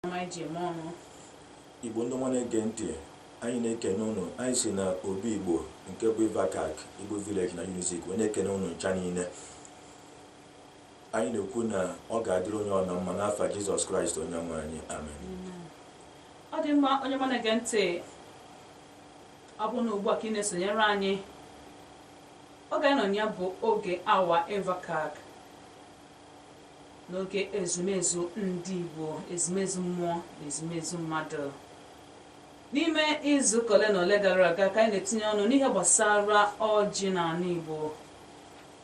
ọma anyị ji eme ọnụ igbo ndị ọma na-ege ntị anyị na-ekene ụnụ anyị si na obi igbo nke bụ IVACAC igbo village na unizik wee na-ekene ụnụ ncha niile anyị na-ekwu na ọ ga-adịrị onye ọbụna mma n'afa jizọs kraịst onye nwe anyị amen ọ dị mma onye ọma na-ege ntị ọ bụ na ugbu a ka ị na-esonyere anyị oge anyị nọ na ya bụ oge awa IVACAC N'oge ezumezu ndị Igbo, ezumezu mmụọ na ezumezu mmadụ. N'ime izuụka ole na ole gara aga ka anyị na-etinye ọnụ n'ihe gbasara ọjị n'anị Igbo.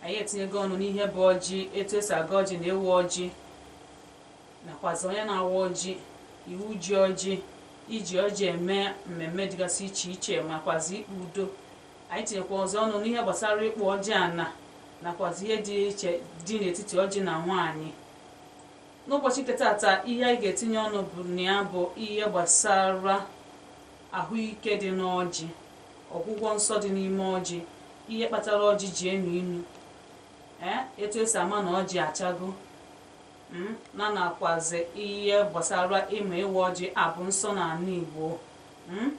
Anyị etinyego ọnụ n'ihe bụ ọjị, etu esi agọ ọjị na ịwa ọjị, nakwazi onye na-awa ọjị, iwu ji ọjị, iji ọjị eme mmemme dịgasị iche iche, makwazi ikpe udo. Anyị tinyekwazi ọnụ n'ihe gbasara ịkpụ ọjị ana nakwazi ihe dị iche dị n'etiti ọjị na nwaanyị. N'ụbọchị nke tata, ihe anyị ga-etinye ọnụ bụ na ya bụ ihe gbasara ahụike dị n'ọjị, ọgwụgwọ nsọ dị n'ime ọjị, ihe kpatara ọjị ji enu inu, ee etu esi ama na ọjị achago, m na nakwazi ihe gbasara ịma ịwa ọjị abụ nsọ n'anị Igbo m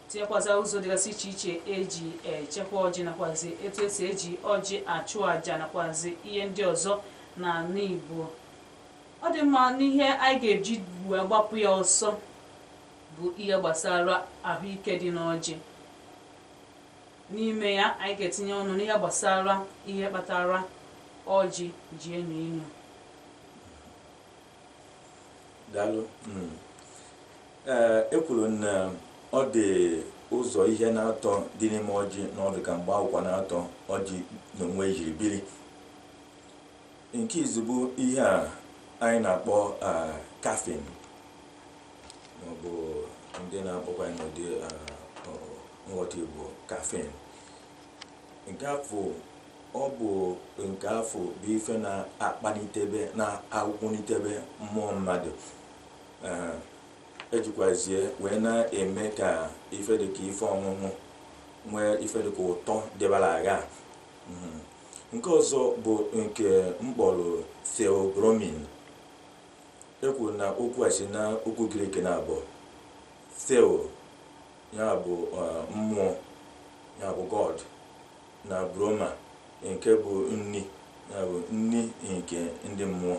tinyekwazi ụzọ dịgasị iche iche eji echekwa ọjị nakwazi etu esi eji ọjị achụ àjà nakwazi ihe ndị ọzọ n'anị Igbo ọ dị mma n'ihe anyị ga-eji wee gbapụ ya ọsọ bụ ihe gbasara ahụike dị n'ọjị N'ime ya, anyị ga-etinye ọnụ n'ihe gbasara ihe kpatara ọjị ji enu inu. Daalụ. Mm. Ee, e kwuru na ọ dị ụzọ ihe naatọ dị n'ime ọjị na ọ dị ka mgbe akwụkwa naatọ ọjị n'onwe ya jiri biri nke izizi bụ ihe a anyị na-akpọ ah, caffeine maọbụ ndị na-akpọkwa n'ụdị nghọta Igbo kafin nke afụ ọ bụ nke afụ bụ ife na-akpalitebe na-akwụnitebe mmụọ mmadụ ejikwazie wee na-eme ka ife dịka ife ọṅụṅụ nwee ife dịka ụtọ dịbara agha hmm. nke ọzọ bụ nke m kpọrọ theobromine E kwuru na okwu a si na okwu Greek naabọ theo ya bụ eh, mmụọ ya bụ god na broma nke bụ nni ya bụ nni nke ndị mmụọ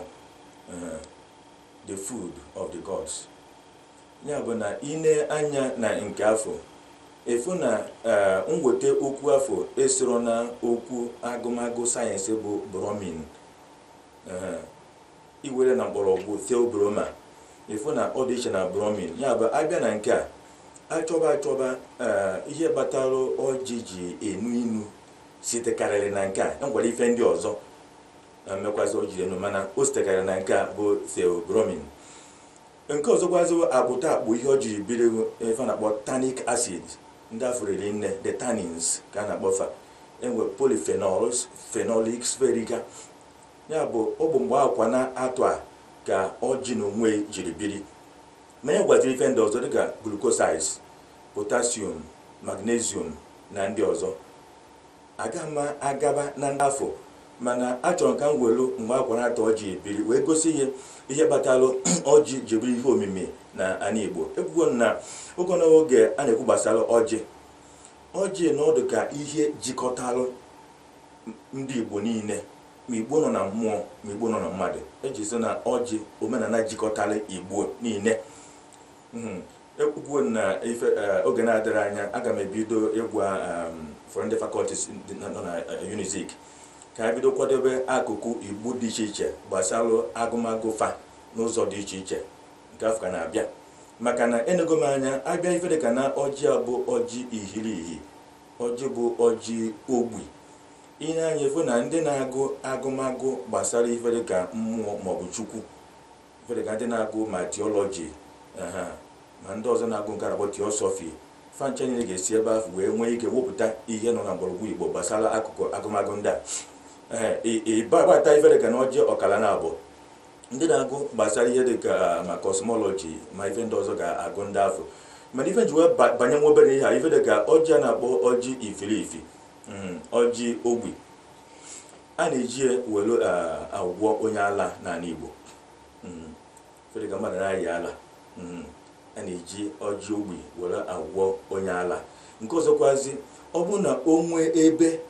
eh, the food of the gods ya bụ na i nee anya na nke afụ ị fụ na eh, nweta okwu afụ esoro na okwu agụmagụ sayensị bụ bromine Eh, iwere na mkpọrọgwụ theobroma ị fụ na ọ dị iche na bromine ya bụ a bịa na nke a a chọba a chọba ee, ihe kpatara ọjị ji enu inu sitekarịrị na nke a e nwere ife ndị ọzọ eh, mekwazi o jiri enu mana o sitekarịrị na nke a bụ theobromine nke ọzọkwazi akpụta akpụ ihe o jiri biri ife a na-akpọ tannic acid ndị afụ riri nne the tannins ka a na-akpọ fa e nwee polyphenols phenolics veriga Ya bụ, ọ bụ mgbe akwa na atụ a ka ọjị n'onwei jiri biri. Ma e nwekwaziri ife ndị ọzọ dịka glucosides, potassium, magnesium na ndị ọzọ. Agaghị m agaba na ndị afụ mana achọrọ m ka m welu mgbe akwa na atụ ọjị jiri biri wee gosi ihe ihe kpatalụ ọjị ji bụrụ ihe omimi na ana Igbo. Ekwugo m na oge na oge a na-ekwu gbasara ọjị. Ọjị na ọ dịka ihe jikọtalụ ndị Igbo niile ma Igbo nọ na mmụọ ma Igbo nọ na mmadụ eji so na ọjị omenala jikọtara Igbo niile hmm. ekwugo na ife eh, oge na-adịrị anya aga m ebido ịgwa ehm, ụfọdụ ndị faculties nọ na eh, Unizik ka ha bido kwadobe akụkụ Igbo dị iche iche gbasara agụmagụ fa n'ụzọ dị iche iche nke afụ ka na-abịa maka na enego m anya a bịa ife dịka na ọjị a bụ ọjị ihirihi Ọjị bụ ọjị ogbi. I nee anya ị fụ na ndị na-agụ agụmagụ gbasara ife dịka mmụọ maọbụ Chukwu, ife dịka ndị na-agụ ma theology aha ma ndị ọzọ na-agụ nke a na-akpọ theosophy, fa ncha niile ga-esi ebe ahụ wee nwee ike wepụta ihe nọ na mgbọrọgwụ Igbo gbasara akụkụ agụmagụ ndị a. Ee, ị- ị ba- bata ife dịka na ọjị ọkala naabọ ndị na-agụ gbasara ihe dị ka ma cosmology ma ife ndị ọzọ ga-agụ ndị afụ mana ife ji wee ba- banye nwa obere ihe a ife dị ka ọjị a na-akpọ ọjị ifirifi mm, ọjị ogbi a na-eji ya were ah, agwọ onye ala n'ala Igbo Mm. ife dị ka mmadụ na-ayị ala Mm. a na-eji ọjị ogbi were agwọ onye ala nke ọzọkwazi ọ bụ na o nwee ebe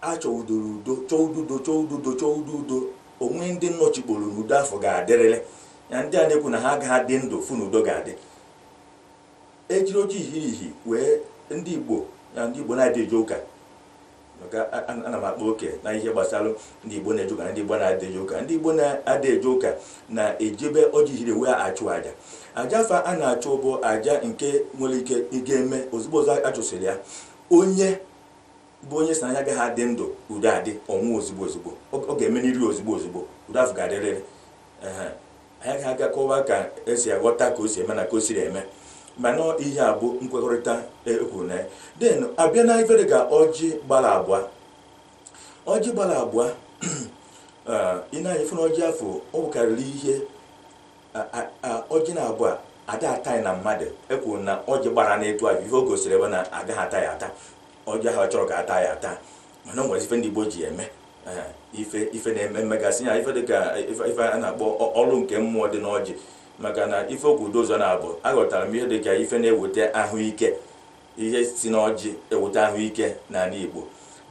a chọrọ udo chọọ udo chọọ udo chọọ udo o nwee ndị nọchikporo na udo afụ ga-adịrịrị na ndị a na-ekwu na ha agaghị adị ndụ fụ na udo ga-adị e jiri ọjị ihirihi wee ndị igbo na ndị igbo na-adị eje ụka maka a- a- ana m akpa oke na ihe gbasara ndị igbo na-eje ụka na ndị igbo na-adị eje ụka ndị igbo na-adị eje ụka na-ejibe ọjị ihiri wee achụ aja aja afụ a na-achụ bụ aja nke nwere ike ị ga-eme ozugbo ozugbo a chụsịrị ya onye bụ onye sị na ya agaghị adị ndụ udo adị ọ nwụọ ozugbo ozugbo ọ ga-emerịrị ozugbo ozugbo udo afụ ga-adịrịrị anyị ga aga kọwa ka esi aghọta ka o si eme na ka o siri eme mana ihe a bụ nkwekọrịta ekwuru na ya den abịa na ife dịka ọjị gbara abụọ ọjị gbara abụọ ị na-anya fụ na ọjị afụ ọ bụkarịrị ihe ọjị na abụọ ada ata na mmadụ ekwuru na ọjị gbara n'etu ahụ ihe o gosiri bụ na agaghị ata ya ata ọjị ahụ ọ chọrọ ka ata ya ata mana o nwere ife ndị Igbo ji eme ife ife na-eme mmegasị ya ife dịka ife a na-akpọ ọrụ nke mmụọ dị n'ọjị maka na ife okwu ụzọ na-abụ aghọtara m ihe dịka ife na-eweta ahụike ihe si n'ọjị eweta ahụike n'ala Igbo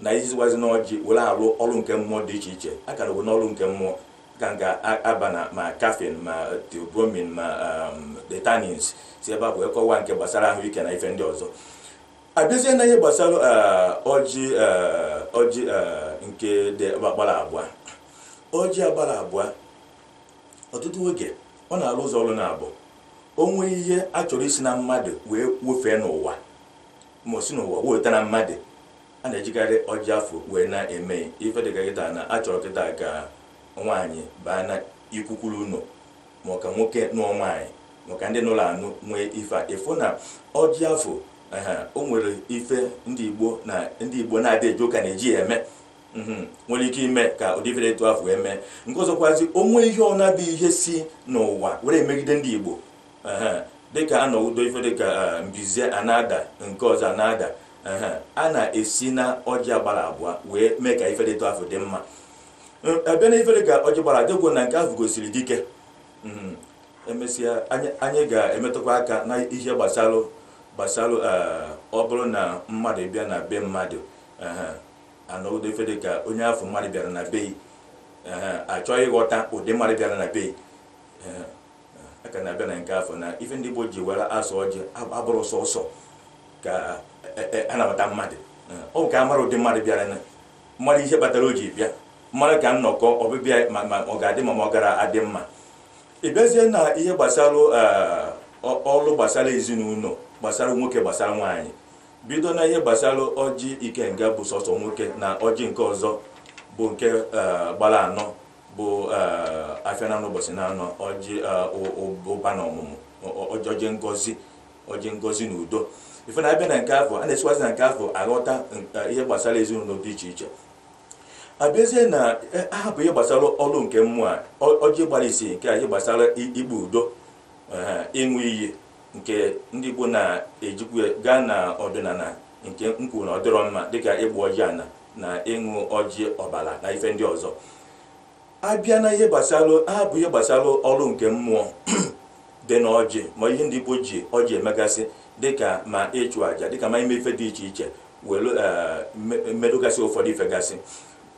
na isiwazi n'ọjị were alụ ọrụ nke mmụọ dị iche iche a kara n'ọrụ nke mmụọ ka a ga-aba na ma caffeine ma theobromine ma um, the tannins si ebe afụ kọwaa nke gbasara ahụike na ife ndị ọzọ abịazie na ihe gbasara eh, ọjị eh, ọjị eh, nke dị agbara abụọ ọjị a gbara abụọ ọtụtụ oge ọ na-alụ ụzọ ọrụ na abụọ o nwee ihe a chọrọ isi na mmadụ wee wefee n'ụwa ma o si n'ụwa weta na mmadụ a na-ejikarị ọjị afụ wee na-eme ife dịka kịta na achọrọ kịta ka nwaanyị baa na ikwukwuru ụlọ ma ọ ka nwoke nụọ nwaanyị maka ndị nụrụ anụ nwee ife a ịfụ na ọjị afụ o nwere ife ndị igbo na ndị igbo na-adị eje ụka na-eji ya eme mhm, nwere ike ime ka ụdị ife dị etu afụ eme nke ọzọkwazi o nwee ihe ọ na-abụ ihe si n'ụwa were emegide ndị igbo dịka a nọwudo ife dịka e, mbize a na-ada nke ọzọ a na-ada a na-esi na ọjị a gbara abụọ wee mee ka ife dị etu afụ dị mma abịa na ife dịka ọjị gbara atọ ekwu na nke ahụ gosiri dike mm-hmm. emesịa anyị ga-emetụkwa aka na ihe gbasara gbasara eh, ọ bụrụ na mmadụ bịa na be mmadụ anọgide ife dị ka onye afụ mmadụ bịara na be achọọ ịghọta ụdị mmadụ bịara na be aka na-abịa na nke afụ na ife ndị Igbo ji were asụ ọjị abụrọ sọsọ ka e, e, e, anabata mmadụ ọ ka a mara ụdị mmadụ bịara na mara ihe kpatara o ji bịa mara ka nnọkọ ọbịbịa ma ma ọ ga-adị mma ma ọ gara adị mma ị bịazie na ihe gbasara eh, ọ- ọrụ gbasara ezinụlọ gbasara nwoke gbasara nwaanyị bido na ihe gbasara ọjị ikenga bụ sọsọ nwoke na ọjị nke ọzọ bụ nke eh, gbara anọ bụ eh, afịa na anọ ụbọchị na anọ ọjị eh, ụ- ụ- ụba na ọmụmụ ọ- ọ- ọjị ngozi ọjị ngozi na udo ife na a bịa na nke afụ a na-esiwazi na nke afụ aghọta ihe gbasara ezinụlọ dị iche iche abịazie na e, ahapụ ihe gbasara ọrụ nke mmụọ a ọjị gbara isi nke a ihe gbasara ikpe udo ịṅụ iyi nke ndị Igbo na-ejikwa gaa na ọdịnala nke m kwuru na ọ dịrọ mma dịka ịgba ọjị ana na ịṅụ ọjị ọbara na ife ndị ọzọ a bịa na ihe gbasara ahapụ ihe gbasara ọrụ nke mmụọ dị na ọjị ma ihe ndị Igbo ji ọjị emegasị dịka ma ịchụ àjà dịka ma ime ife dị iche iche were medogasị ụfọdụ ife gasị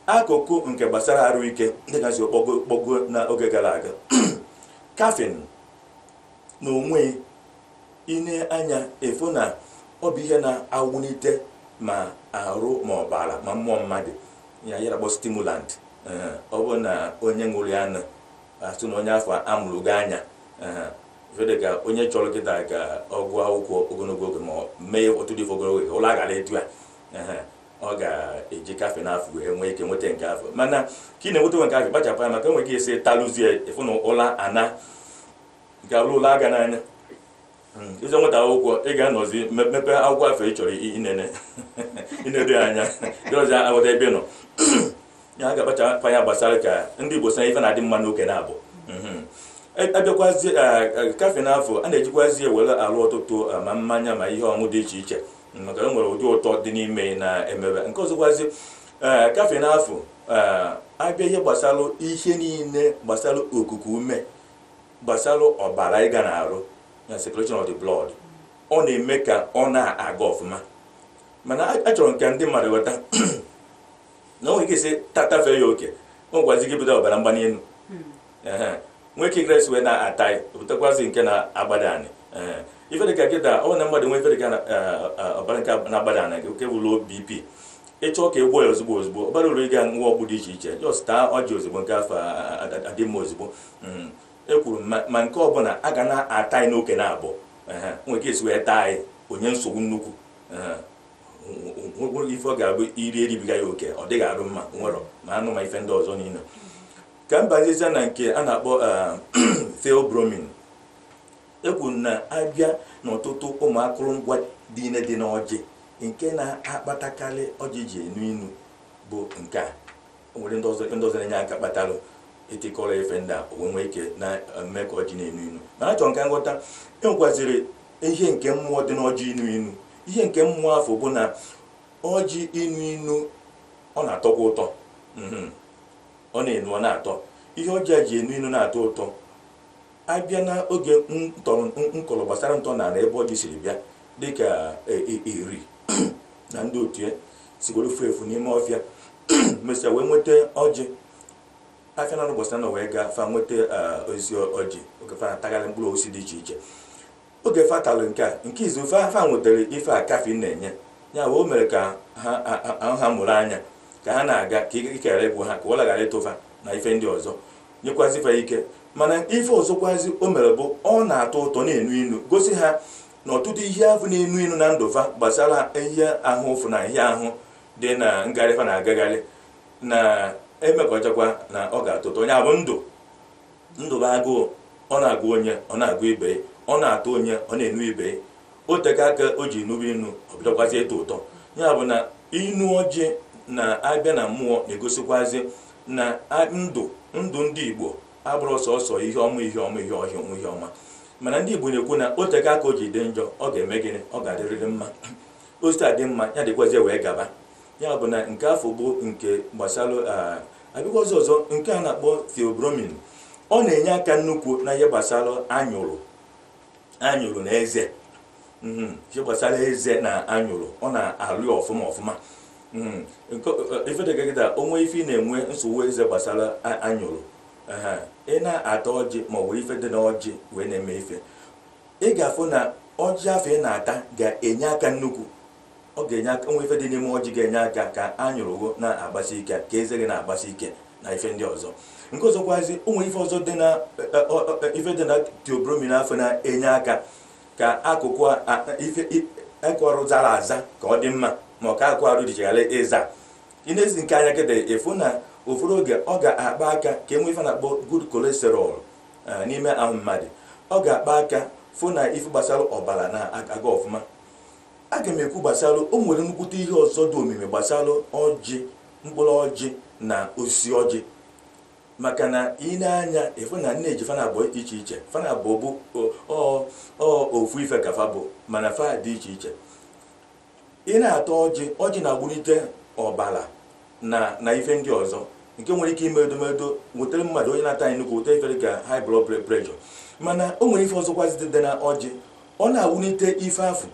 akụkụ nke gbasara arụ ike dịka esi kpọgo n'oge gara aga caffeine na onwe i nee anya ị fụ na ọ bụ ihe na-awụlite ma arụ ma ọbara ma mmụọ mmadụ ya ewere kpọ stimulant ọ bụ na onye ṅụrụ ya na a fụ na onye afụ amụrụgo anya ife dịka onye chọrọ kịta ka ọ gụọ akwụkwọ ogologo oge ma mee otu dị ogologo oge ụla aghara ịtụ ya ọ ga-eji caffeine afụ wee nwee ike nweta nke afụ mana ka ị na-enweta nwe nke afụ kpachapụ anya maka e nwe ka i si talụzie ị fụ na ụla ana nke alụ ụla aga n'anya ịzọ nweta akwụkwọ ị ga-anọzi me- mepee akwụkwọ afụ ị chọrọ i- inene inedo ya anya dịrọzi aghọta ebe ị nọ ya a ga-akpachakwa anya gbasara ka ndị Igbo sị na ife na-adị mma n'oke na-abụ Mhm. A- abịakwazi a- a- caffeine afụ a na-ejikwazi ewere alụ ọtụtụ a, ma mmanya ma ihe ọṅụ dị iche iche maka e nwere ụdị ụtọ dị n'ime ya na-emebe nke ọzọkwazi ee, caffeine afụ ee, abịa ihe gbasara ihe niile gbasara okuku ume gbasara ọbara ịga n'arụ na circulation of the blood ọ na-eme ka ọ na-aga ọfụma mana achọrọ m ka ndị mmadụ ghọta na o nwere ka i si tatafee ya oke o gwazi gị bido ọbara mgbali elu nwee ka ị ga-esi wee na-ata ya o butekwazi nke na-agbada anị ife dịka kịta ọ na mmadụ nwee ife dịka ọbara nke na-agbada anị nke bụ low BP ị chọọ ka ị gwọọ ya ozugbo ozugbo ọ barọ uru ịga ṅụwa ọgwụ dị iche iche just taa ọjị ozugbo nke afụ a- a- a- adị mma ozugbo Mm. ekwuru m ma- ma nke ọbụla a ga na-ata ya n'oke na abụọ Ehe. nwere ka e si wee taa ya o nye nsogbu nnukwu Ehe. nwere ife ọ ga-abụ i rie ribiga ya oke ọ dịghị arụ mma were ma anụ ma ife ndị ọzọ niile ka m bazizie na nke a na-akpọ eh, theobromine e kwuru na a bịa n'ọtụtụ ụmụ akụrụngwa niine dị n'ọjị nke na-akpatakarị ọjị ji enu inu bụ nke a o nwere ndị ọzọ ndị ọzọ na-enye aka kpatalụ itikọrọ ife ndị a o wee nwee ike na-eme ka ọjị na-enu inu mana achọrọ m ka unu ghọta e nwekwaziri ihe nke mmụọ dị n'ọjị inu inu ihe nke mmụọ afụ bụ na ọjị inu inu ọ na-atọkwa ụtọ mhm. ọ na-enu ọ na-atọ ihe ọjị a ji enu inu na-atọ ụtọ a bịa na oge ntọrọ m kọrọ gbasara ntọ na ebe ọjị siri bịa dịka Eri na ndị otu ya sigoro furu efu n'ime ọfịa mesịa wee nweta ọjị afịa na gbasara na wee gaa fa nweta osisi ọjị oge fa na-atagharị mkpụrụ osisi dị iche iche Oge fa talụ nke a, nke izizi fa fa nwetara ife a caffeine na-enye. Ya wee o mere ka ha a- a- ahụ ha mụrụ anya ka ha na-aga ka ike ike ghara ịgwụ ha ka ụra ghara ịtụ fa na ife ndị ọzọ nyekwazi fa ike mana ife ọzọkwazi o mere bụ ọ na-atọ ụtọ na-enu inu gosi ha na ọtụtụ ihe afụ na-enu inu na ndụ fa gbasara ihe afụfụ na ihe ahụ dị na ngagharị fa na-agagharị na emekọchakwa na ọ ga-atọ ụtọ ya bụ ndụ Ndụ bụ agụụ, ọ na-agụ onye, ọ na-agụ ibe ya, ọ na-atọ onye, ọ na-enu ibe ya. O teka aka o ji nube inu, ọ bidokwazie ịtọ ụtọ. Ya bụ na inu ọjị na-abịa na mmụọ na-egosikwazi na a- ndụ ndụ ndị Igbo abụrọ sọsọ ihe ọma ihe ọma ihe ọhịa ọma ihe ọma mana ndị Igbo na-ekwu na o teka aka o ji dị njọ ọ ga-eme gịnị ọ ga-adịrịrị mma o si taa dị mma ya dịkwazie wee gaba ya bụ na nke afụ bụ nke gbasara ah, abịakwa ọzọ ọzọ nke a na-akpọ theobromine ọ na-enye aka nnukwu na ihe gbasara anyụrụ anyụrụ na eze mhm, ihe gbasara eze na anyụrụ ọ na-alụ ya ọfụma ọfụma mhm, ife dịka kịta o nwee ife ị na-enwe nsogbu eze gbasara anyụrụ ị na-ata ọjị ma ọ bụ ife dị na ọjị wee na-eme ife ị ga-afụ na ọjị afụ ị na-ata ga-enye aka nnukwu ọ ga-enye aka o nwe ife dị n'ime ọjị ga-enye aka ka anyụrụ gị na-agbasi ike ka eze gị na-agbasi ike na ife ndị ọzọ nke ọzọkwazi o nwe ife ọzọ dị na e, e, ọ- ọ- e, ife dị na theobromine afụ na-enye aka ka akụkụ a- a- ife i- akụkụ arụ zara aza ka ọ dị mma ma ọ ka akụkụ arụ gị ghara ịza i neezikwa anya kịta ị fụ na ụfọdụ oge ọ ga-akpa aka ka e nwee ife a na-akpọ good cholesterol eh, n'ime ahụ mmadụ ọ ga-akpa aka fụ na ife gbasara ọbara na-aga ọfụma A ga m ekwu gbasara o nwere nnukwute ihe ọzọ dị omimi gbasara ọjị, mkpụrụ ọjị na osisi ọjị. Maka na i nee anya ị fụ na nne ji fa naabọ iche iche, fa naabọ bụ ọ ọ ofu ife ka fa bụ mana fa dị iche iche. Ị na-ata ọjị, ọjị na-agbụlite ọbara na na ife ndị ọzọ nke nwere ike ime edomedo wetara mmadụ onye na-ata ya nnukwu weta ife dịka high blood pre- pressure mana o nwere ife ọzọkwazi dị dị na ọjị ọ na-awụlite ife afụ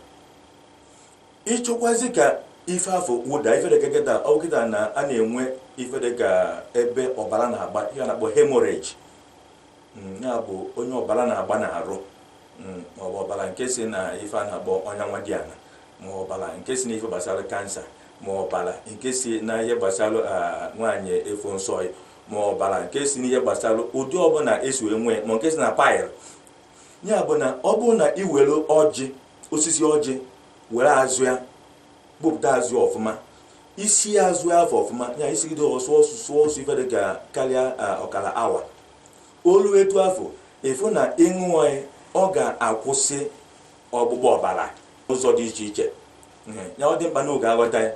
ị chọkwazi ka ife afụ wụda ife dịka kịta ọ bụ kịta na a na-enwe ife dịka ebe ọbara na-agba ihe a na-akpọ hemorrhage mm, ya bụ onye ọbara na-agba n'arụ mm, ma ọ bụ ọbara nke si na ife a na-akpọ ọnya nwa dị ala ma ọbara nke si na ife gbasara kansa ma ọbara nke si na ihe gbasara ah, nwaanyị ịfụ nsọ ma ọbara nke si na ihe gbasara ụdị ọbụla e si wee nwee ma nke si na pile ya bụ na ọ bụrụ na ị were ọjị osisi ọjị were azụ ya gbupụta azụ ọfụma i sie azụ afụ ọfụma ya i sigide ọ sụọ ọsụsụ ọ sụọ ife dị ka karịa ọkara awa O lue etu afụ ị fụ na ị ṅụọ ya ọ ga-akwụsị ọgbụgba ọbara n'ụzọ dị iche iche ya ọ dị mkpa na a ga-aghọta ya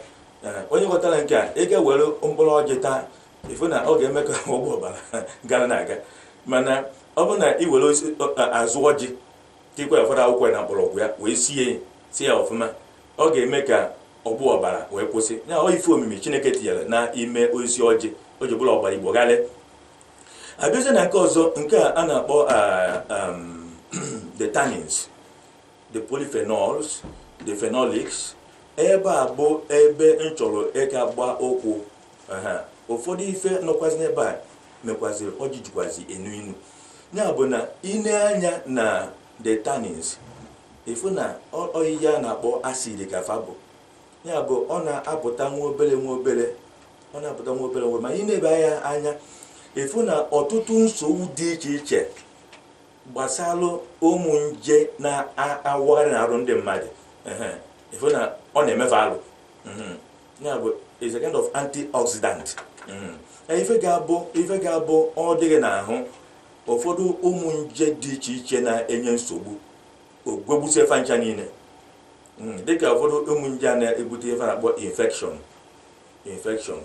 onye ghọtara nke a ị ga-ewere mkpụrụ ọjị taa ị fụ na ọ ga-eme ka ọgbụgba ọbara gara na-aga mana ọ bụrụ na ị were azụ ọjị tikwa ụfọdụ akwụkwọ na mkpọrọgwụ ya wee sie ya sie ya ọfụma ọ ga-eme ka ọgbụ ọbara wee kwụsị ya ọ ife omimi Chineke tinyere na ime osisi ọjị o ji bụrụ ọgbara Igbo gharịị a bịazie na nke ọzọ nke a a na-akpọ the tannins the polyphenols the phenolics ebe a bụ ebe m chọrọ ịga gba ụkwụ ụfọdụ ife nọkwazi n'ebe a mekwaziri ọjị jikwazi enu inu ya bụ na i nee anya na the tannins ị fụ na ọ ihe a na-akpọ acid ka fa bụ ya bụ ọ na-apụta nwa obere nwa obere ọ na-apụta nwa obere nwa ma i nebe ya anya ị fụ na ọtụtụ nsogbu dị iche iche gbasalụ ụmụ nje na-awagharị n'arụ ndị mmadụ ehe, ị fụ na ọ na-eme fa alụ Mhm. ya bụ is a kind of antioxidant Mhm. Ya ife ga-abụ ife ga-abụ ọ dị gị n'ahụ ụfọdụ ụmụ nje dị iche iche na-enye nsogbu o gwegbusie fa ncha niile Mm, dịka ụfọdụ ụmụ nje a na-ebute ife a na-akpọ infection infection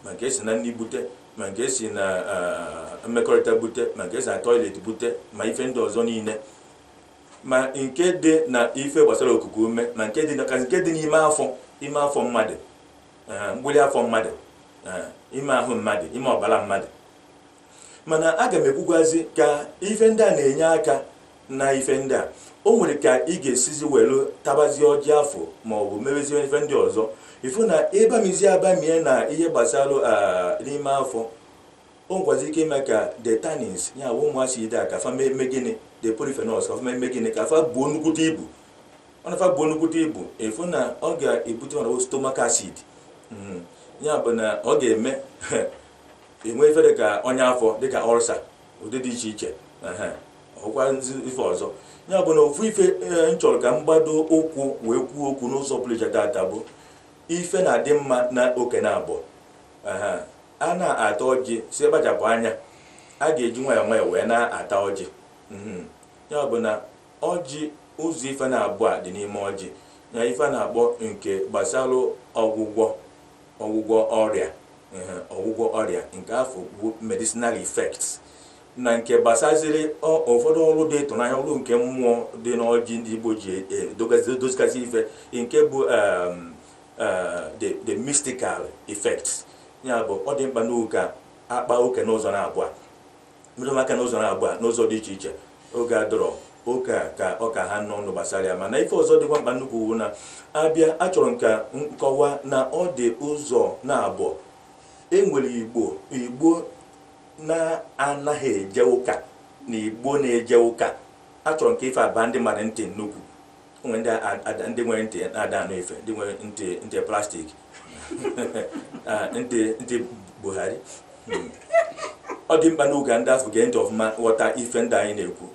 ma nke e si na nri bute ma nke e si na ah, mmekọrịta bute ma nke e si na toilet bute ma ife ndị ọzọ niile ma nke dị na ife gbasara okuku ume ma nke dị na ka nke dị n'ime afọ ime afọ mmadụ ah, mgbụlị afọ mmadụ ah, ime ahụ mmadụ ime ọbara mmadụ mana aga m ekwukwazi ka ife ndị a na-enye aka na ife ndị a o nwere ka ị ga-esizi welu tabazie ọjị afụ ma ọ bụ mebezie ife ndị ọzọ ị fụ na ị bamizie abamie na ihe gbasara ah, n'ime afọ o nwekwazi ike ime ka the tannins ya bụ ụmụ acid a ka fa mee gịnị the polyphenols ka fa mee gịnị ka fa buo nnukwute ibu ọ na fa buo nnukwute ibu ị fụ na ọ ga-ebute ọnọdụ stomach acid Mm. ya bụ na ọ ga-eme enwe ife dịka ọnya afọ dịka ulcer ụdị dị iche iche ọkwa ife ọzọ ya bụ na ofu ife eh, m chọrọ ka m gbado ụkwụ wee kwuo okwu n'ụzọ pụrụ iche tata bụ ife na-adị mma na oke na abụọ a na-ata ọjị sị kpachapụ anya a ga-eji nwayọọ nwayọọ wee na-ata ọjị mhm. ya bụ na ọjị ụzọ ife naabọ a dị n'ime ọjị na ife na-akpọ nke gbasalụ ọgwụgwọ ọgwụgwọ ọrịa ehe, ọgwụgwọ ọrịa nke afụ bụ medicinal effects na nke gbasaziri ọ- ụfọdụ ọrụ dị ịtụnanya ọrụ nke mmụọ dị n'ọjị ndị Igbo ji e- e- dogazi- dozigasị ife nke bụ um, uh, the, the mystical effects ya bụ ọ dị mkpa n'oge a a kpaa oke n'ụzọ naabọ metụ aka n'ụzọ naabọ a n'ụzọ dị iche iche oge a dọrọ oke a ka ọ ka ha nọ ndụ gbasara ya mana ife ọzọ dịkwa mkpa nnukwu wụ na a bịa achọrọ m ka m kọwaa na ọ dị ụzọ naabọ e nwere igbo igbo na-anaghị eje ụka na igbo na-eje ụka achọrọ m ka ife a baa ndị mmadụ ntị nnukwu o nwere ndị a- a- ndị nwere ntị na-ada anụ ife ndị nwere ntị ntị plastic Ah, ntị ntị Buhari Hmm. ọ dị mkpa n'oge a ndị afụ gee ntị ọfụma ghọta ife ndị anyị na-ekwu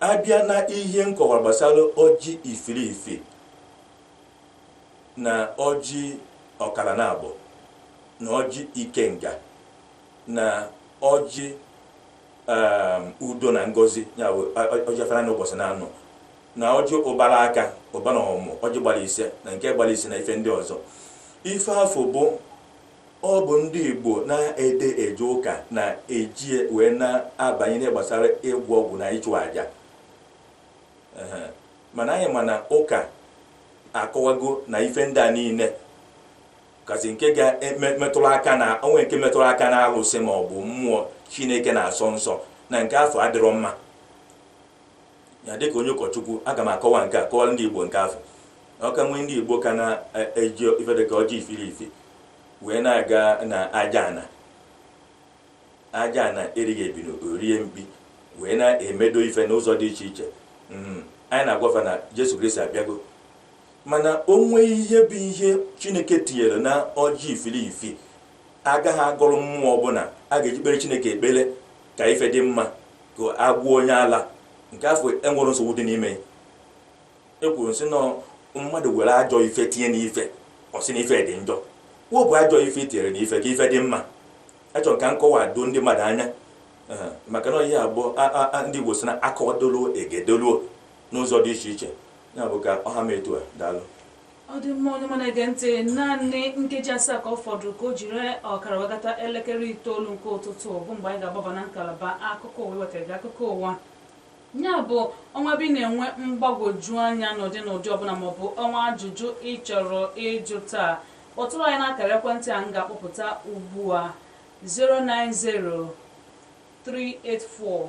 a bịa na ihe m kọwara gbasara ọjị ifilifi na ọjị ọkara naabọ na ọjị ikenga na ọjị um, udo na ngozi ya bụ ọjị afịa naanọ ụbọsị naanọ na ọjị ụbara aka ụba na ọmụmụ ọjị gbara ise na nke gbara isii na ife ndị ọzọ ife afụ bụ ọ bụ ndị igbo na-adị eje ụka na-eji wee na-abanye n'ihe gbasara ịgwọ ọgwụ na ịchụ àjà mana anyị ma na ụka akọwago na ife ndị a niile kasị nke ga-emetụrụ aka na o nwee nke metụrụ aka na alụsị ma ọ bụ mmụọ chineke na-asọ nsọ na nke afụ adịrọ mma ya dịka onye ụkọchukwu aga m akọwa nke a kọwara ndị igbo nke afụ ọ ka nwee ndị igbo ka na-eji ife dịka ọjị ifilifi wee na-aga na aja ana aja ana erighị ebini o rie mkpi wee na-emedo ife n'ụzọ dị iche iche hmm. anyị na-agwa fa na jesu kristi abịago mana o nwere ihe bụ ihe chineke tinyere na ọjị ifilifi agaghị agọrọ mmụọ ọbụla a ga-eji kpere chineke ekpere ka ife dị mma ka a gwọọ onye ala nke afụ enwerọ nsogbu dị n'ime ya ekwuru m sị na mmadụ were ajọ ife tinye n'ife ọ sị na ife dị njọ wepụ ajọ ife e tinyere na ife ka ife dị mma achọrọ m ka nkọwa doo ndị mmadụ anya Ee, maka na ihe a bụ a- a- a- ndị igbo sị na a kọwadoluo e gedoluo n'ụzọ dị iche iche Ya bụ ka ọ ha m etu a, daalụ. Ọ dị mma onye ọma na-ege ntị, naanị nkeji asaa ka ọ fọdụrụ ka o jiri ọkara wee gata elekere itoolu nke ụtụtụ bụ mgbe anyị ga-agbaba na ngalaba akụkọ ụwa iwetara gị akụkọ ụwa. Ya bụ o nwee ebe ị na-enwe mgbagwoju anya n'ụdị n'ụdị ọbụla maọbụ o nwee ajụjụ ị chọrọ ịjụ taa kpọtụrụ anyị n'akara ekwentị a m ga-akpọpụta ugbu a 090 384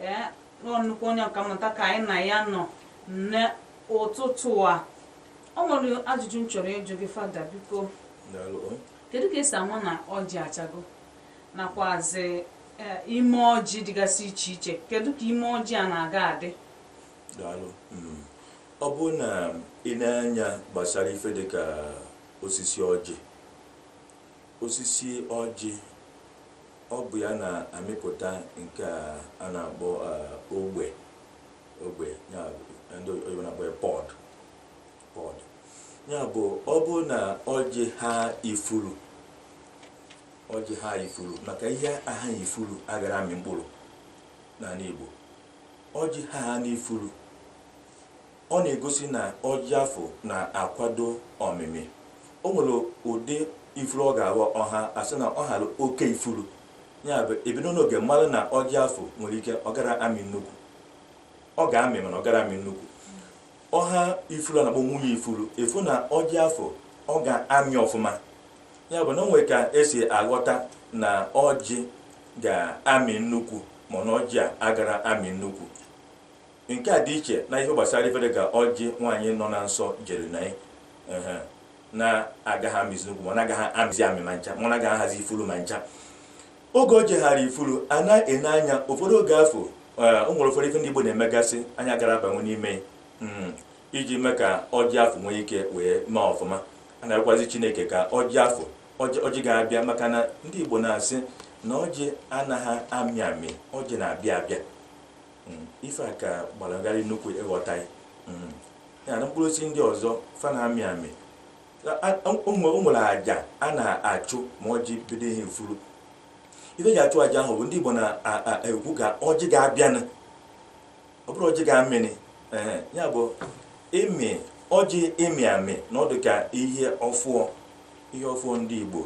ee ọ nnukwu onye ọkammụta ka anyị na ya nọ n'ụtụtụ a o nwere ajụjụ m chọrọ ịjụ gị fada biko Daalụ. kedu ka esi ama na ọjị achago nakwazi eh, ime ọjị dịgasị iche iche kedu ka ime ọjị a na-aga adị Daalụ. Mm. ọ bụ na i nee anya gbasara ife dị ka osisi ọjị osisi ọjị Ọ bụ ya na-amịpụta nke a a na-akpọ eh, ogbe ogbe ya ndị oyibo na-akpọ ya pod pod ya bụ ọ bụ na ọjị ha ifuru ọjị ha ifuru maka ihe aha ifuru agara amị mkpụrụ n'anị Igbo ọjị haanị ifuru Ọ na-egosi na ọjị afụ na-akwado ọmịmị. O nwere ụdị ifuru ọ ga-abụ ọ ha a sị na ọ hara oke ifuru. Ya bụ, e bido n'oge mara na ọjị afụ nwere ike ọ gara amị nnukwu. Ọ ga-amị mana ọ gara amị nnukwu. Ọ ha ifuru a na-akpọ nwunye ifuru, ị fụ na ọjị afụ ọ ga-amị ọfụma. Ya bụ na o nwere ka esi aghọta na ọjị ga-amị nnukwu ma na ọjị a agara amị nnukwu. Nke a dị iche na ihe gbasara ife dị ka ọjị nwaanyị nọ na nsọ jere na ya na-agaghị amịzi nnukwu ma ọ na-agaghị amịzi amị ma ncha ma ọ na-agaghị ahazi ifuru ma ncha oge o ji hara ifuru a na-ene anya ụfọdụ oge afụ o nwere ụfọdụ ife ndị Igbo na-emegasị anyị agara abanye n'ime iji mee ka ọjị afụ nwee ike wee mee ọfụma a na-agwazi Chineke ka ọjị afụ ọjị ga-abịa maka na ndị Igbo na-asị na ọjị anaghị amị amị ọjị na-abịa abịa Mm, ife a ka gbalagharị nnukwu ịghọta mm. ya na mkpụrụ osisi ndị ọzọ fa na-amị amị o nwere aja a na-achụ ma ọjị bido ịha ifuru ife e ji achụ aja ahụ bụ ndị Igbo na-ekwu ka ọjị ga-abịanụ ọ bụrụ ọjị ga-amịnị ya bụ ịmị ọjị ịmị amị na ọ dụ ka ihe ọfụọ ihe ọfụọ ndị Igbo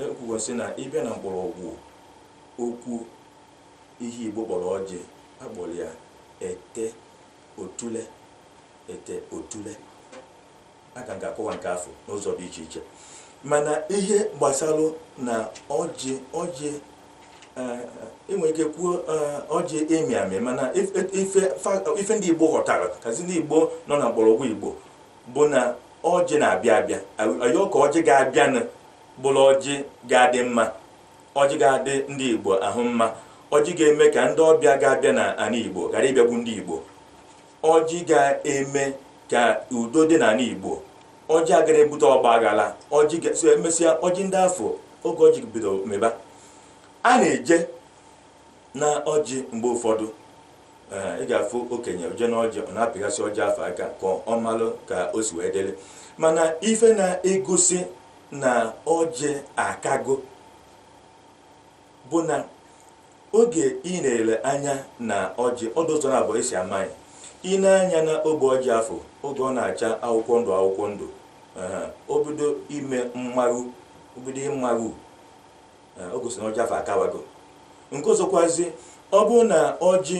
ekwugo e, e, e, si na ịbịa na mgbọrọgwụ okwu Ihe Igbo kpọrọ ọjị, a kpọrọ ya ete otule, ete otule. Aka m ga-akọwa nke afụ n'ụzọ dị iche iche mana ihe gbasalụ na ọjị ọjị e nwere eh, ike kwuo eh, ọjị ịmị amị mana ife ndị Igbo ghọtara kazi ndị Igbo nọ na mgbọrọgwụ Igbo bụ na ọjị na-abịa abịa a yọọ ka ọjị ga-abịanụ bụrụ ọjị ga-adị mma ọjị ga-adị ndị Igbo ahụ mma ọjị ga-eme ka ndị ọbịa ga-abịa na anị Igbo ghara ịbịagbu ndị Igbo ọjị ga-eme ka udo dị n'anị Igbo ọjị agara ebute ọgba aghara ọjị so emesịa ọjị ndị afụ oge ọjị bido meba a na-eje na ọjị mgbe ụfọdụ ị ga-afụ okenye o je na ọjị ọ na-apịgasị ọjị afụ aka ka ọ malụ ka o si wee dịrị mana ife na-egosi na ọjị akago bụ na oge ị na-ele anya na ọjị ọ dị ụzọ na abụọ e si ama ya i nee anya na ogbe ọjị afụ oge ọ na-acha akwụkwọ ndụ akwụkwọ ndụ o bido ime mmaru o bido ịmaru o gosi na ọjị afụ akawago nke ọzọkwazi ọ bụrụ na ọjị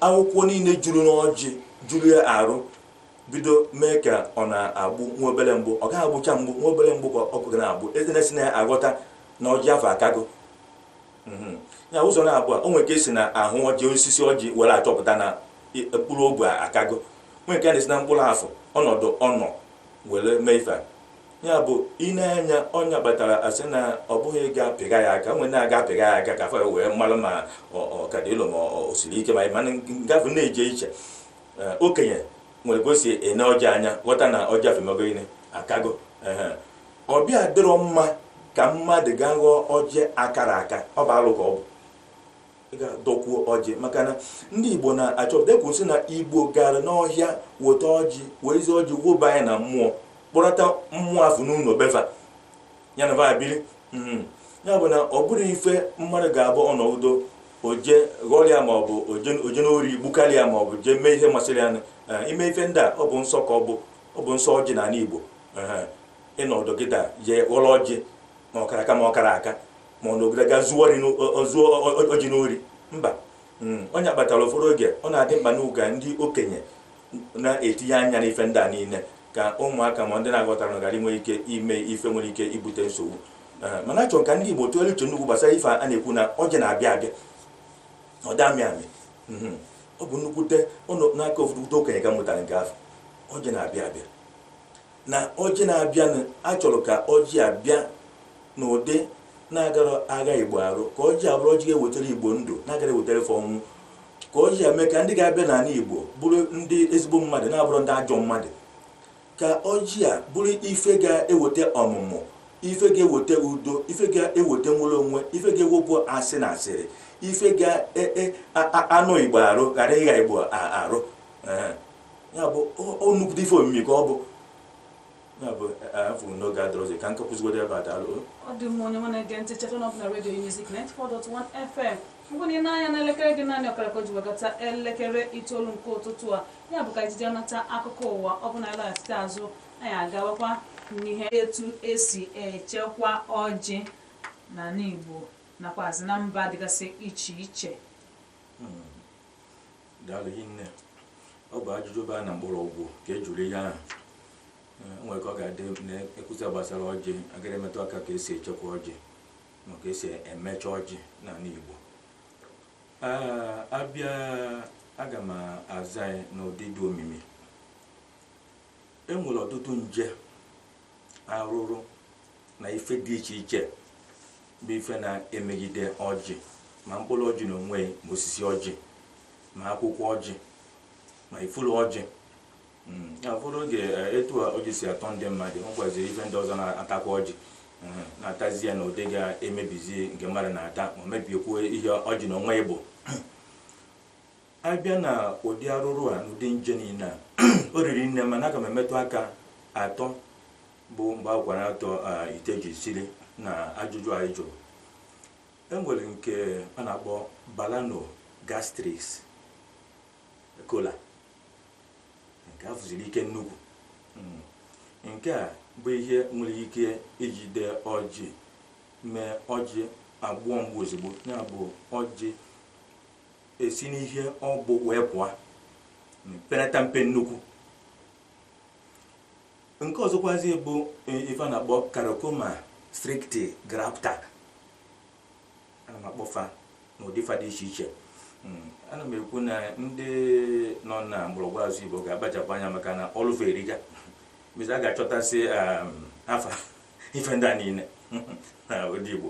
akwụkwọ niile juru n'ọjị juru ya arụ bido mee ka ọ na-agbụ nwa obere mgbụ ọ gaghị agbụcha mgbụ nwa obere mgbụ ka ọkụ ga na-agbụ eze na-esi na ya aghọta na ọjị afụ akago mhm. ya ụzọ na abụọ o nwere ka e si na ahụ ọjị osisi ọjị were achọpụta na mkpụrụ ogbe akago nwere ka a na-esi na mkpụrụ afụ ọnọdụ ọ nọ were mee ife ya bụ ine anya ọ nya kpatara a sị na ọ bụghị ịga pịga ya aka nwere na-aga pịga ya aka ka a fụ wee mara ma ọ ka dị nlo ma o siri ike ma ị mana ngafe na-eje iche Ee, okenye nwere ka o si ene ọjị anya ghọta na ọjị afụ emego gịnị akago Ehe. ọbịa dịrọ mma ka mmadụ gaa ghọọ ọjị akarọ aka ọ bụ alụ ka ọ bụ ga dọkwuo ọjị maka na ndị Igbo na-achọpụta ekwu sị na Igbo gara n'ọhịa weta ọjị wezi ọjị woba ya na mmụọ kpọrọta mmụọ afụ n'ụlọ be fa ya na fa biri mhm. ya bụ na ọ bụrụ ife mmadụ ga-abụ ọ nọdụ o je ghọrịa ma ọ bụ o je n'ori gbukarịa ma ọ bụ jee mee ihe masịrị ya eh, ime ife ndị a ọ bụ nsọ ka ọ bụ ọ bụ nsọ ọjị n'anị Igbo eh, ịnọdụ kịta je ghọrọ ọjị ma ọ kara aka ma ọ karọ aka ma ọ nọgide ga zuo ọjị n'ori mba Mm, ọ nya kpatara ụfọdụ oge ọ na-adị mkpa na ụga ndị okenye na-etinye anya n'ife ndị a niile ka ụmụaka ma ndị na-aghọtarọ ghara inwe ike ime ife nwere ike ibute nsogbu Eh, mana a chọrọ ka ndị Igbo tụgharịa uche nnukwu gbasara ife a na-ekwu na ọjị na-abịa abịa ọ dị amị amị Mhm. ọ bụ nnukwute ọnụ n'aka ụfọdụ okenye ka m mụtara nke afụ ọjị na-abịa abịa na ọjị na-abịanụ a chọrọ ka ọjị a bịa n'ụdị na-agara agha igbo arụ ka ọjị a bụrụ ọjị ga-ewetara igbo ndụ na-agara ewetara ife ọnwụ ka ọjị a mee ka ndị ga-abịa n'ala igbo bụrụ ndị ezigbo mmadụ na-abụrọ ndị ajọ mmadụ ka ọjị a bụrụ ife ga-eweta ọmụmụ ife ga-eweta udo ife ga-eweta nwere onwe ife ga-ewepụ asị na asịrị ife ga-anụ igbo arụ ghara ịgha igbo arụ ya bụ ọ nnukwute ife omimi ka ọ bụ ya bụ afụrụ m na oge adịrọzi ka m ka kwụsịgodo ebe a daalụ ọ dị mma onye ọma na-ege ntị cheta na ọ bụ na redio Unizik 94.1 FM mgbe na ị nee anya n'elekere gị naanị ọkara ka o ji wee gata elekere itoolu nke ụtụtụ a ya bụ ka anyị jee nata akụkọ ụwa ọ bụrụ na anyị laghachite azụ anyị agawakwa n'ihe etu esi echekwa ọjị n'ala Igbo nakwazi na mba dịgasị iche iche daalụ hinne ọ bụ ajụjụ baa na mgbọrọgwụ ka e jụrụ ihe ahụ Eh, o nwerọ ka ọ ga-adị e kwusịa gbasara ọjị a ghara imetụ aka ka esi echekwa ọjị ma ka esi emecha ọjị n'ala Igbo Ah, abịa aga m aza ya n'ụdị dị omimi e nwere ọtụtụ nje arụrụ na ife dị iche iche bụ ife na-emegide ọjị ma mkpụrụ ọjị n'onwe ya ma osisi ọjị ma akwụkwọ ọjị ma ifuru ọjị hmm, ụfọdụ oge eh, etu a ọjị si atọ ndị mmadụ e nwekwazi ife ndị ọzọ na-atakwa ọjị hmm, na-atazi ya na ụdị ga-emebizi nke mmadụ na-ata ma mebiekwu ihe ọjị n'onwe ya bụ abịa na ụdị arụrụ a na ụdị nje niile a o riri nne mana aga m emetụ aka atọ bụ mgbe akwara atọ ite ji siri na ajụjụ a ị jụrụ enwere nke a na-akpọ Balanogastris kolae nke a fụziri ike nnukwu hmm. nke a bụ ihe nwere ike ijide ọjị mee ọjị agbuo mgbu ozugbo ya bụ ọjị esi n'ihe ọ bụ wee pụọ penata mpe nnukwu nke ọzọkwazi bụ ife a na-akpọ Characoma strictigrapta ana m akpọ fa n'ụdị fa dị iche iche ana m ekwu na ndị nọ na mgbọrọgwụ asụsụ igbo ga-akpachapụ anya maka na ọlụ fa erika mezi a ga-achọtasị afa ife ndị a niile na ụdị igbo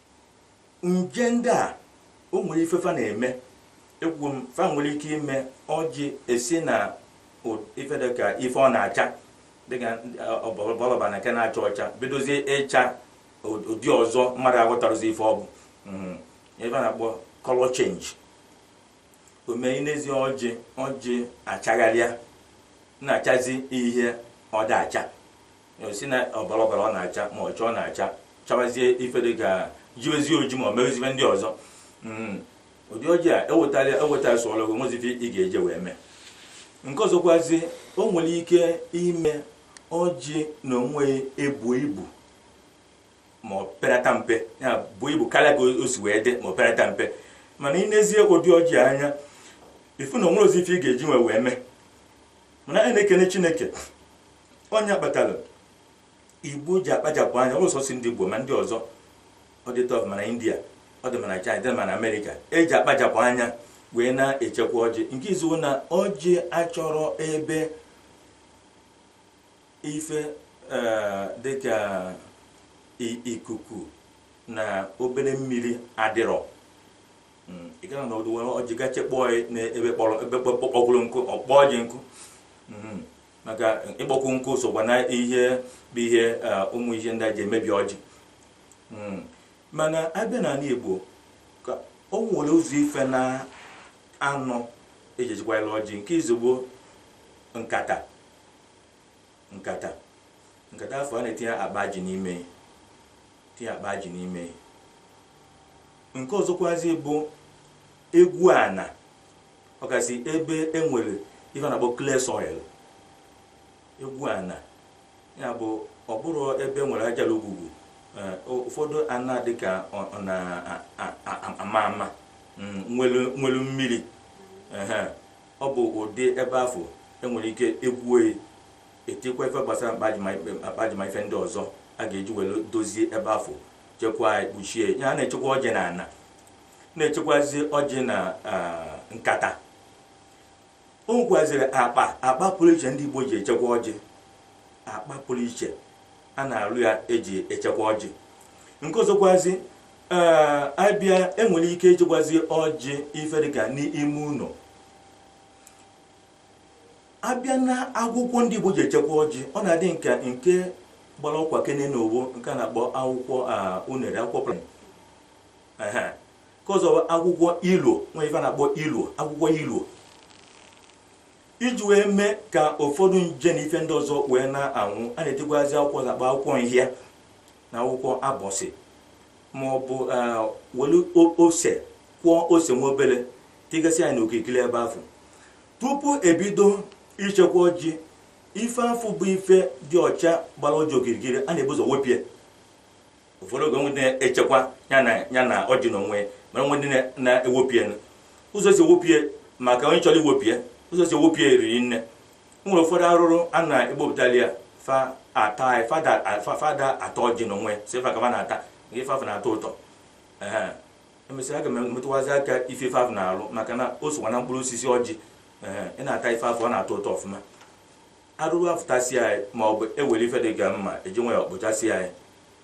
nje ndị a o nwere ife fa na-eme ekwugo m fa nwere ike ime ọjị esi na ife dịka ife ọ na-acha dịka ọbara ọbara na nke na-acha ọcha bidozie ịcha ụdị ọzọ mmadụ aghọtarọzi ife ọ bụ hmm. ife a na-akpọ color change o mee ị nezie ọjị ọjị achagharịa na-achazi ihe ọ da-acha si na ọbara ọbara ọ na-acha ma ọcha ọ na-acha chawazie ife dị ka jiwezie oji ma ọ merezibe ndị ọzọ mm, ụdị ọjị a ewetara ewetara sụọrọ gị nwezi ife ị ga-eji wee mee nke ọzọkwazi o nwere ike ime ọjị na onwe ya ebu ibu ma ọ perata mpe ya bụ ibu karịa ka o si wee dị ma ọ perata mpe mana ị nezie ụdị ọjị anya ị fụ na o nwerọzi ife ị ga-eji wee wee mee mana anyị na-ekene chineke onye kpatara igbo ji akpachapụ anya ọ bụrọ sọsọ ndị igbo ma ndị ọzọ ọ dị etu afụ ma na india ọ dị ma na china dị ma na america eji akpachapụ anya wee na-echekwa ọjị nke izizi bụ na ọjị achọrọ ebe ife eh, dịka i- ikuku na obere mmiri adịrọ Mm, ị gara na ọdụ were ọjị ga chekpọọ ya n'ebe kpọrọ ebe kpọkpọgoro nkụ ọ kpọọ ọjị nkụ Mhm. maka ịkpọkwu nkụ sokwa na ihe bụ ihe ụmụ ihe ndị a ji emebi ọjị hmm. mana abịa n'ana Igbo ka o nwere ụzọ ife na anọ eji echekwara ọjị nke izizi bụ nkata nkata nkata afụ a na-etinye akpa ji n'ime tinye akpa ji n'ime nke ọzọkwazi bụ egwuo ana ọkasị ebe e nwere ife a na-akpọ clay soil egwuo ana ya bụ ọ bụrụ ebe nwere ajala ogwugwu eh, o- ụfọdụ ana dị ka ọ ọ na-ama ama mm, nwelu nwelu mmiri ehe. ọ bụ ụdị ebe afụ enwere ike egwue etikwa ife gbasara mkpajima akpajima ife ndị ọzọ a ga-eji were dozie ebe afụ chekwaa ya, kpuchie ya a na-echekwa ọjị na ana na-echekwazi ọjị na ah, nkata o nwekwaziri akpa akpa pụrụ iche ndị igbo ji echekwa ọjị akpa pụrụ iche a na-arụ ya eji echekwa ọjị nke ọzọkwazi ee abịa enwere ike ịchekwazi ọjị ife dịka n'ime ụnọ abịa na akwụkwọ ndị igbo ji echekwa ọjị ọ na-adị nke nke gbara ọkwa kene na ọ bụ nke a na-akpọ akwụkwọ ah, unere akwụkwọ pụrụ ehe nke ọzọ bụ akwụkwọ ilu nwere ife a na-akpọ ilu akwụkwọ ilu iji wee mee ka ụfọdụ nje na ife ndị ọzọ wee na-anwụ a na-etikwazi akwụkwọ a na-akpọ akwụkwọ nhịa na akwụkwọ abọsị ma ọ bụ eh, welu o- ose kwọọ ose nwa obere tigasịa ya n'okirikiri ebe afụ tupu ebido ichekwa ọjị ife afụ bụ ife dị ọcha gbara ọjị okirikiri a na-ebu ụzọ wepịa ụfọdụ oge o nwee ndị na-echekwa ya na ya na ọjị n'onwe ya mana o nwee ndị na- na-ewepịa nụ. ụzọ si ewepịa maka onye chọrọ iwepịa ụzọ si ewepịa eriri nne o nwere ụfọdụ arụrụ a na-egbopụtali ya fa ata ya, fa ada fa- fa ada ata ọjị n'onwe ya si fa ka fa na-ata nke ife afụ na-atọ ụtọ Ehe. emesịa aga m emetụkwazi aka ife ife afụ na-arụ maka na o sokwa na mkpụrụ osisi ọjị Ehe. ị na-ata ife afụ ọ na-atọ ụtọ ọfụma arụrụ afụ tasịa ya ma ọ bụ ewere ife dị ka mma eji nwayọ kpochasịa ya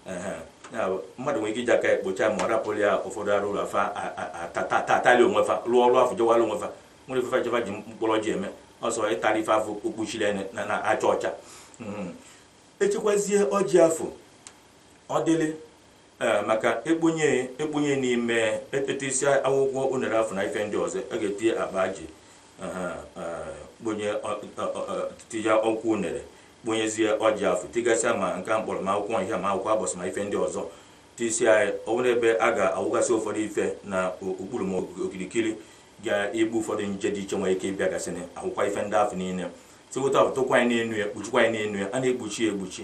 Ehe. Ya bụ, mmadụ nwere ike iji aka ya kpocha ma ọ rapụrụ ya ụfọdụ arụrụ afụ a- a- a- ta- ta- ta- atarị onwe fa rụọ ọrụ afụ jewara onwe fa nwere ife fa je- fa ji mkpụrụ ọjị eme ọ sọ ịtarị ife afụ kpuchiri ya na- na acha ọcha Mhm. echekwazie ọjị afụ ọ dịrị ee maka ekponye ekponye n'ime e tisịa akwụkwọ unere afụ na ife ndị ọzọ a ga-etinye akpa ji aha, ee, kponye ọ- ọ- ọ- tinye akwụkwọ unere kponyezie ọjị afụ tigasịa ma nke a m kpọrọ ma akwụkwọ nhịa ma akwụkwọ abọsị ma ife ndị ọzọ tisịa ya o nwere ebe a ga-awụgasị ụfọdụ ife na o- okpuru ma o- okirikiri ga-egbu ụfọdụ nje dị iche nwere ike ịbịa gasị na akwụkwọ ife ndị afụ niile tiwụta tụkwaa ya n'enu ya kpuchikwaa ya n'enu ya a na-ekpuchi ya ekpuchi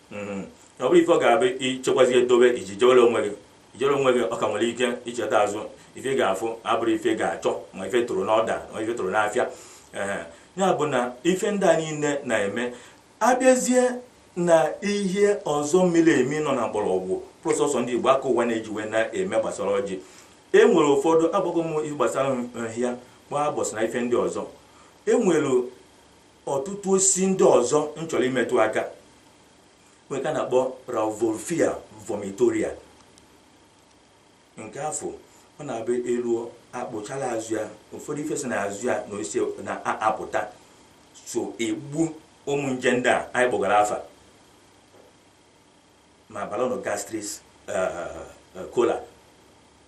mm-hmm. ọ bụrụ ife ọ ga-abụ ichekwazi edobe iji jewere onwe gị ijere onwe gị ọ ka nwere ike icheta azụ ife ị ga-afụ abụrụ ife ga-achọ ma ife tụrụ n'ọda ma ife tụrụ n'afịa ee ya bụ na ife ndị a niile na-eme abịazie na ihe ọzọ miri emi nọ na mgbọrọgwụ prọsọsọ ndị Igbo aka ụwa na-ejiwe na-eme gbasara ọjị e nwere ụfọdụ agbago m ihe gbasara nhịa gbaa abọsị na ife ndị ọzọ e nwere ọtụtụ osisi ndị ọzọ m chọrọ imetụ aka nwee nke a na-akpọ Rauvolfia vomitoria nke afụ ọ na-abụ eluo akpụchala azụ ya ụfọdụ ife si na azụ ya na osisi na-apụta so egbu ụmụ nje ndị a anyị kpọgara afa ma Balanogastris kola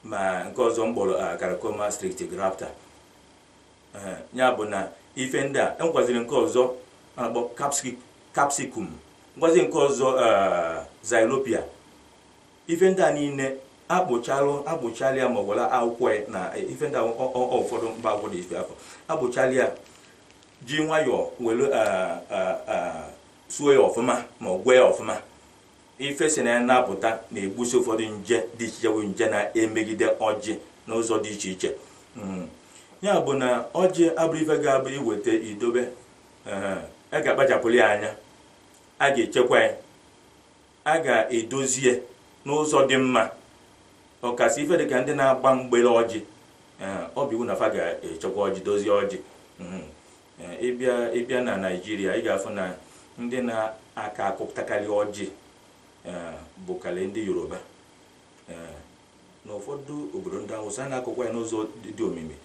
ma nke ọzọ m kpọrọ Characoma strictigrapta ya bụ na ife ndị a enwekwaziri nke ọzọ a na-akpọ capsicum nwekwazi nke ọzọ xylopia ife ndị a niile akpụchalụ akpụchalụ ya ma ọ gwara akwụkwọ ya na ife ndị ụfọdụ mba akwụkwọ dị ife afụ akpụchalụ ya ji nwayọọ were suo ya ọfụma ma ọ gwee ya ọfụma ife si na ya na-apụta na-egbusi ụfọdụ nje dị iche iche bụ nje na-emegide ọjị n'ụzọ dị iche iche Mm. ya bụ na ọjị abụrọ ife ga-abụ iweta idobe ee, a ga-akpachapụrụ ya anya a ga-echekwa ya a ga-edozi ya n'ụzọ dị mma ọkasị ife dịka ndị na-agba mgbele ọjị ee, ọ bụ iwu na fa ga-echekwa ọjị dozie ọjị Mhm. ịbịa ịbịa na naijiria ị ga-afụ na ndị na-aka akụpụtakarị ọjị bụkarị ndị yoruba na ụfọdụ obodo ndị awụsa na-akụkwa ya n'ụzọ dị omimi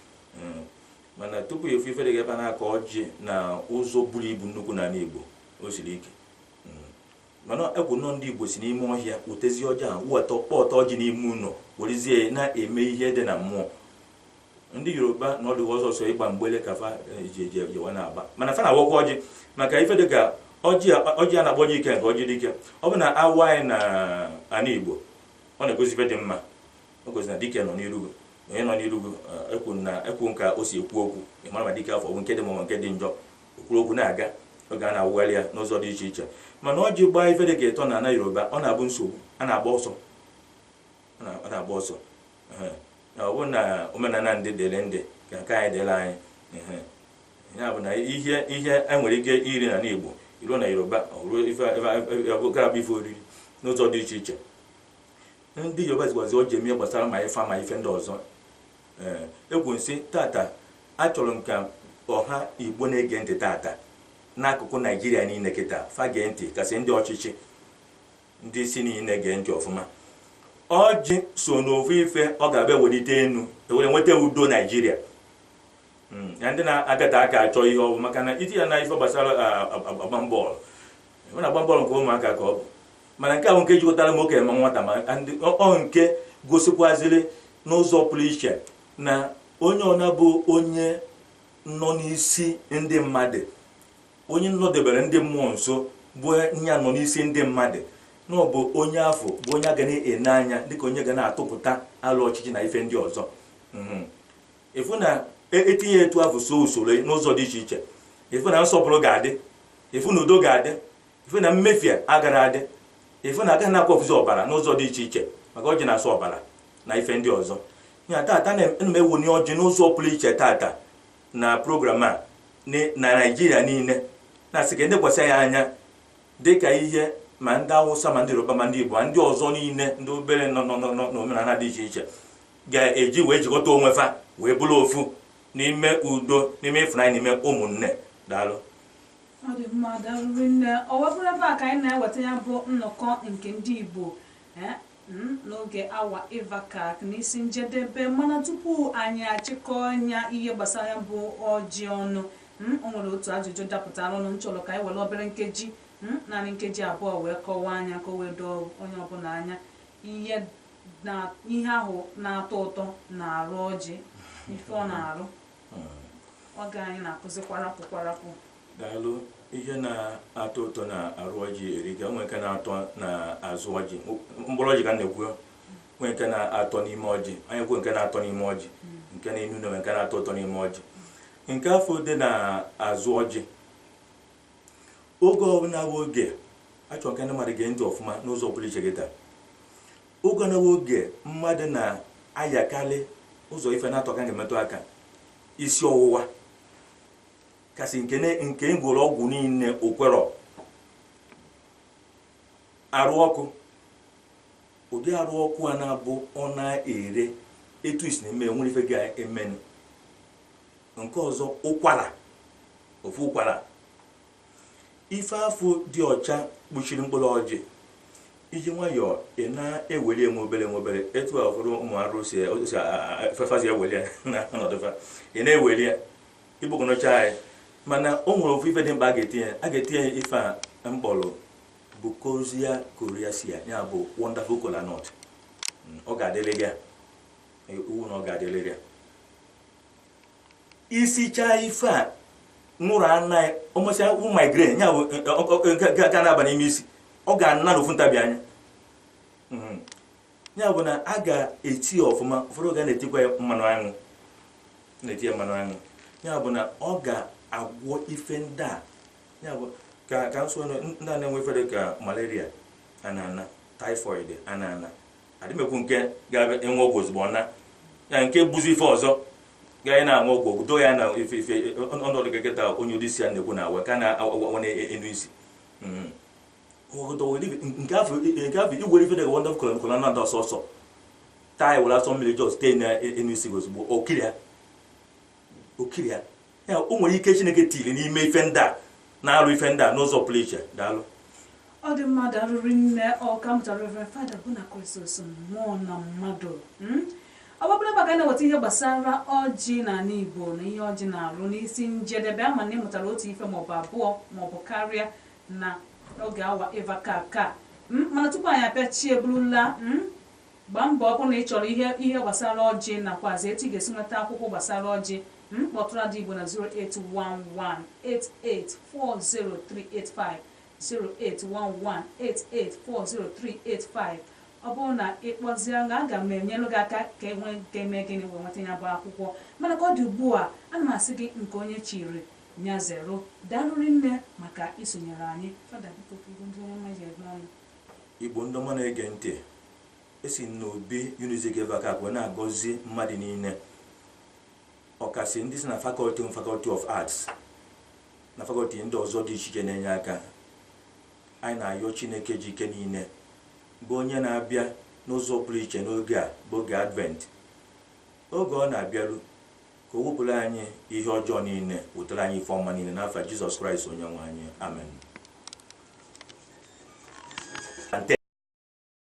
mana tupu ị fụ ife dịka ebe a na-akọ ọjị na ụzọ buru ibu nnukwu n'ala igbo o siri ike mana ekwu nọ ndị igbo si n'ime ọhịa wetezi ọjị ahụ weta kpọta ọjị n'ime ụlọ werezie ya na-eme ihe dị na mmụọ ndị yoruba na ọ bụ sọsọ ịgba mgbele ka fa eh, ji eji ejewa na-agba mana fa na-awakwa ọjị maka ife dị ka ọjị a- ọjị a na-akpọ ọjị ikenga ọjị dike ọ bụ na a waa ya na ana igbo ọ na-egosi ife dị mma o gosi na dike nọ n'irugo onye nọ n'irugo ekwu na ekwu nka o si ekwu okwu ị mara ma dike afụ ọ bụ nke dị mma ma nke dị njọ O kwuru okwu na-aga oge a na-awụgharị ya n'ụzọ dị iche iche mana ọjị gbaa ife dị ka ịtọ na ana Yoruba ọ na-abụ nsogbu a na-agba ọsọ ọ na- ọ na-agba ọsọ Ehe. Na ọ bụ na omenala ndị dịrị ndị ka nke anyị dịrị anyị Ehe. ya bụ na ihe ihe e nwere ike iri na n'Igbo i ruo na Yoruba ọ ruo ife ife- ife- agarọ abụ ife oriri n'ụzọ dị iche iche Ndị Yoruba jikwazi ọjị eme ihe gbasara ma ife ma ife ndị ọzọ. Ee, ekwu nsị tata achọrọ m ka ọha Igbo na-ege ntị tata n'akụkụ Naijiria niile kịta fa gee ntị kasị ndị ọchịchị ndị isi niile gee ntị ọfụma. Ọjị so n'ofu ife ọ ga-abụ e welite enu e were nweta udo Naijiria. Mm, ya ndị na-agata aka achọ ihe ọwụ maka na itinye ya na ife gbasara a- a- agba bọọlụ ọ na-agba bọọlụ nke ụmụaka ka ọ bụ mana nke ahụ nke jikọtara ma okenye ma nwata ma ndị ọ nke gosikwaziri n'ụzọ pụrụ iche na onye ọna bụ onye nọ n'isi ndị mmadụ onye nọdebere ndị mmụọ nso bụ onye a nọ n'isi ndị mmadụ na ọ bụ onye afụ bụ onye a ga na-ene anya dịka onye ga na-atụpụta alo ọchịchị na ife ndị ọzọ Mhm. ịfụ na etinye e etu afụ so usoro n'ụzọ dị iche iche ịfụ na nsọpụrụ ga-adị ịfụ na udo ga-adị ịfụ na mmefie agarọ adị ịfụ na agaghị na-akwafuzi ọbara n'ụzọ dị iche iche maka ọjị na-asọ ọbara na ife ndị ọzọ ya tata na m ewuni ọjị n'ụzọ pụrụ iche tata na program a na naijiria niile na-asị ka e nekwasị ya anya dị ka ihe ma ndị awụsa ma ndị yoruba ma ndị igbo ma ndị ọzọ niile ndị obere nọ n'omenala dị iche iche ga-eji wee jikọta onwe fa wee bụrụ ofu n'ime udo n'ime ịfụnanya n'ime ụmụnne daalụ ọ dị mma daalụ rinne o wee bụrụ ebe a ka anyị na-eweta ya bụ nnọkọ nke ndị Igbo eh, hmm, n'oge awa ịvakak n'isi njedebe mana tupu anyị achịkọọ anya ihe gbasara ya bụ ọjị ọnụ hmm, o nwere otu ajụjụ dapụtaranụ m chọrọ ka anyị were obere nkeji hmm, naanị nkeji abụọ wee kọwaa ya ka o wee doo onye ọbụla anya ihe na ihe ahụ na-atọ ụtọ na arụ ọjị ife ọ na-arụ oge anyị na-akụzi kwarapụ kwarapụ daalụ ihe na-atọ ụtọ na arụ ọjị erika nwee nke na-atọ na azụ ọjị mkpụrụ ọjị ka m na-ekwu nwee nke na-atọ n'ime ọjị anyị kwuo nke na-atọ n'ime ọjị nke na-enu inu na nke na-atọ ụtọ n'ime ọjị nke afụ dị na azụ ọjị oge ọbụla bụ oge a chọrọ ka ndị mmadụ gee ntị ọfụma n'ụzọ pụrụ iche kịtaa oge ọbụla bụ oge mmadụ na-ayakarị ụzọ ife naatọ ka a ga-emetụ aka isi ọwụwa kasị nke na- nke a gwọrọ ọgwụ niile o kwerọ arụ ọkụ ụdị arụ ọkụ a na-abụ ọ na-ere etu isi na-eme o nwere ife ga-emenụ nke ọzọ ụkwara ofu ụkwara ife afụ dị ọcha kpuchiri mkpụrụ ọjị i ji nwayọọ ị na-eweli enwe obere nwe obere etu a ụfọdụ ụmụ arụ si fefazi eweli ya na ọnọdụfa ị na-eweli ya igbogọnọcha anyị mana o nwere ofu ife dị mkpa a ga-etinye a ga-etinye ife a m kpọrọ Buchholzia coriacea ya bụ wonderful kola nut ọ ga-adịrịrị ya iwu na ọ ga-adịrịrị ya i sichaa ife a ṅụrụ anaghị ọ masị ya wụ migraine ya bụ ga na-aba n'ime isi ọ ga-ana n'ofu ntabi anya hmm. ya bụ na a ga-eti ya ọfụma ụfọdụ ga na-etikwa ya mmanụ aṅụ na-eti ya mmanụ aṅụ ya bụ na ọ ga-agwọ ife ndị a ya bụ ka ka nsọ ndị a na-enwe ife dị ka malaria ana ana typhoid ana ana adị m ekwu nke ga-abịa enwe ọgwụ ozugbo na ya nke bụzi ife ọzọ ga anyị na-aṅụ ọgwụ ọgwụ doo ya na ife ife ọnọdụ geketa onye ụdị isi ya na-ekwu na-awa ka na-awa na enu isi Mhm. Ọgọdọ were ife- nke afụ nke afụ i were ife dịka wonderful kola nut ọsọ ọsọ taa were asọ mmiri jọs tee na enu isi gị ozugbo okiri ya okiri ya ya o nwere ike chineke tiri n'ime ife ndị a na-alụ ife ndị a n'ụzọ pụrụ iche daalụ ọ dị mma daalụ rinne ọkammụta reverend father Bonachristus mmụọ na mmadụ hmm? ọ bụrụla ebe a ka anyị na-eweta ihe gbasara ọjị n'ala igbo na ihe ọjị na-arụ n'isi njedebe ama m na ị mụtara otu ife maọbụ abụọ maọbụ karịa na oge awa ịva ka ka hmm? mana tupu anyị apịachie burula hmm? Gbaa mbọ ọ bụrụ na ị chọrọ ihe gbasara ọjị nakwazị etu ị ga-esi nweta akwụkwọ gbasara ọjị, kpọtụrụ Ada Igbo na 08118840385, 08118840385. Ọ bụrụ na ị kpọzịa m, aga m enyelụ gị aka ka i mee gịnị wee nweta ya bụ akwụkwọ. Mana ka ọ dị ugbu a, ana m asị gị nke onye chiri nya zerụ. Daalụ rinne maka isonyere anyị. Fada biko ka ibu ndị onye mma ji eme ọnụ. Igbo ndị ọma na-ege ntị, esi m n'obi Unizik ebe a Awka wee na-agọzi mmadụ niile ọkasị ndị si na fakọlti m fakọlti of arts na fakọlti ndị ọzọ dị iche iche na-enye aka anyị na-ayọ chineke ji ike niile bụ onye na-abịa n'ụzọ pụrụ iche n'oge a bụ oge advent oge ọ na-abịaru Ka o wepụrụ anyị ihe ọjọọ niile, wetara anyị ife ọma niile n'afa Jizọs Kraịst Onyenwe anyị. Amen.